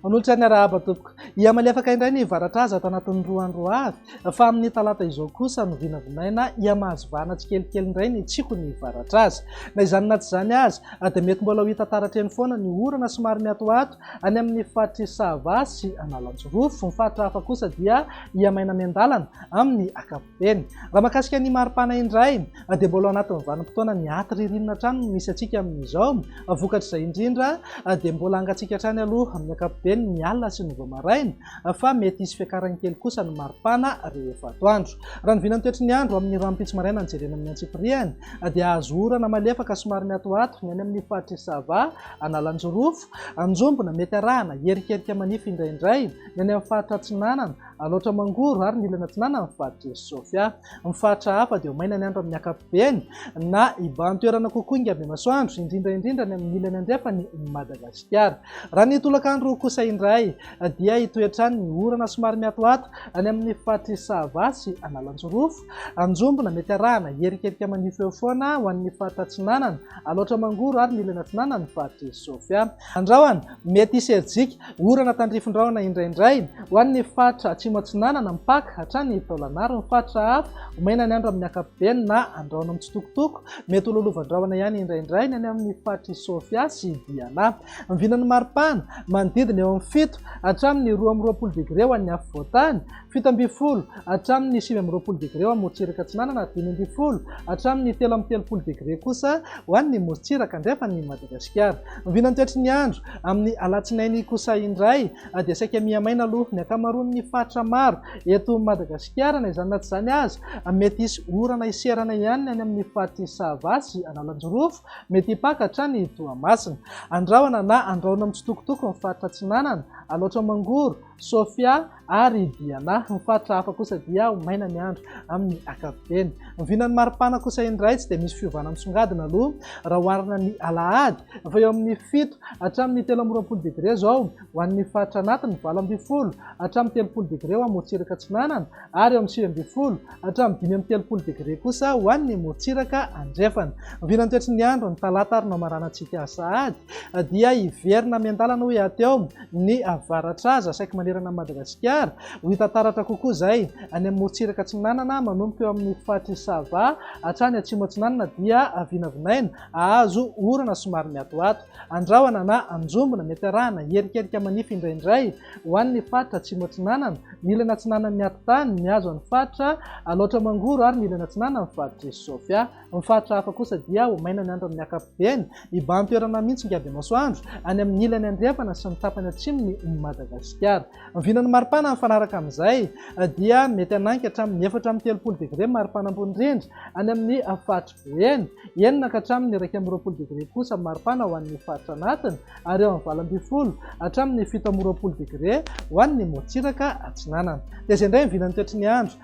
Manolotra ny arahaba tompoko. Iamaly afaka indray ny varatra azy ato anatin'ny roa andro avy fa amin'ny talata izao kosa no vinavinaina iamahazo vahana tsikelikely indray ny tsiko ny varatra azy. Na izany na tsy izany aza dia mety mbola ho hita taratra eny foana ny orana somary miatoato Any amin'ny faritr'i Sava sy Analanjirofo. Ny faritra hafa kosa dia hihamay-na miandalana amin'ny ankapobeny. Raha mahakasika ny mari-pana indray dia mbola ao anatin'ny vanim-potoana ny aty ririnina hatrany no misy antsika amin'izao. Vokatr'izay indrindra dia mbola hangatsiaka hatrany aloha amin'ny ankapobeny ny alina sy ny vao-maraina fa mety hisy fiakarany kely kosa ny mari-pana rehefa atoandro. Raha ny vinan'ny toetry ny andro amin'ny rahampitso maraina no jerena amin'ny antsipiriany dia hahazo orana malefaka somary miatoato ny any amin'ny faritr'i Sava, Analanjirofo, Anjombona, mety arahana, hierikerika manify indraindray ny any amin'ny faritra atsinanana, Alaotra Mangoro ary ny ilany atsinanan'ny faritr'i Sofia. Ny faritra hafa dia ho maina ny andro amin'ny ankapobeny na hibahan-toerana kokoa ingam-bemasoandro, indrindra indrindra ny amin'ny ilany andrefan'i Madagasikara. Raha ny tolakandro kosa indray dia hitohy hatrany ny orana somary miatoato any amin'ny faritr'i Sava sy Analanjirofo. Anjombona, mety arahana, hierikerika manify eo foana ho an'ny faritra atsinanana, Alaotra Mangoro ary Milina atsinanana ny faritr'i Sofia. Andrahona, mety hisy herijika, orana tandrifin-drahona indraindray, ho an'ny faritra atsimo atsinanana, Mpaka, hatrany Taolagnaro ary ny faritra hafa, Omena ny andro amin'ny ankapobeny na andrahona mitsitokotoko, mety ho lolovan-drahona ihany indraindray ny any amin'ny faritr'i Sofia sy Diana. Vinan'ny maripana, manodidina eo amin'ny fito hatramin'ny roa amby roapolo degre ho an'ny afovoan-tany, fito ambin'ny folo hatramin'ny sivy amby roapolo degre eo amin'ny morontsiraka atsinanana ary dimy ambin'ny folo hatramin'ny telo amby telopolo degre kosa ho an'ny morontsiraka andrefan'i Madagasikara. Ny vinan'ny toetry ny andro amin'ny alatsinainy kosa indray dia saika mihamaina aloha ny ankamaroan'ny faritra maro eto Madagasikara. Na izany na tsy izany aza, mety hisy orana hiserana ihany ny any amin'ny faritr'i Sava sy Analanjirofo, mety hipaka hatrany Toamasina. Andrahona na andrahona mitsitokotoko ny faritra atsinanana, Alaotra Mangoro, Sofia, ary i Diana. Ny faritra hafa kosa dia ho maina ny andro amin'ny ankapobeny. Ny vinan'ny maripana kosa indray tsy dia misy fiovana misongadina aloha raha oharina ny alahady fa eo amin'ny fito hatramin'ny telo amby roapolo degre izao ho an'ny faritra anatiny, valo ambin'ny folo hatramin'ny telopolo degre ho an'ny morontsiraka atsinanana ary eo amin'ny sivy ambin'ny folo hatramin'ny dimy amby telopolo degre kosa ho an'ny morontsiraka andrefana. Ny vinan'ny toetry ny andro ny talata ary no hamaranantsika sahady dia hiverina miandalana ho eo ny avaratra aza saiky manerana an'i Madagasikara. Ho hita taratra kokoa izay any amin'ny morontsiraka atsinanana manomboka eo amin'ny faritry ny Sava hatrany atsimo atsinanana dia vinavinaina hahazo orana somary miatoato, andrahona na anjombona, mety arahana hierikerika manify indraindray ho an'ny faritra atsimo atsinanana, ny ilany atsinanan'ny atitany, mihazo an'ny faritra Alaotra Mangoro ary ny ilany atsinanan'ny faritr'i Sofia. Amin'ny faritra hafa kosa dia ho maina ny andro amin'ny ankapobeny, hibahan-toerana hamintsy ny andiamasoandro any amin'ny ilany andrefana sy ny tapany atsimon'i Madagasikara. Ny vinan'ny maripana mifanaraka amin'izay dia mety hanangy hatramin'ny efatra amby telopolo degre maripana ambony indrindra any amin'ny faritry Boeny, enina ka hatramin'ny iraika amby roapolo degre kosa maripana ho an'ny faritra anatiny ary eo amin'ny valo ambin'ny folo hatramin'ny fito amby roapolo degre ho an'ny morontsiraka atsinanana. Dia izay indray ny vinan'ny toetry ny andro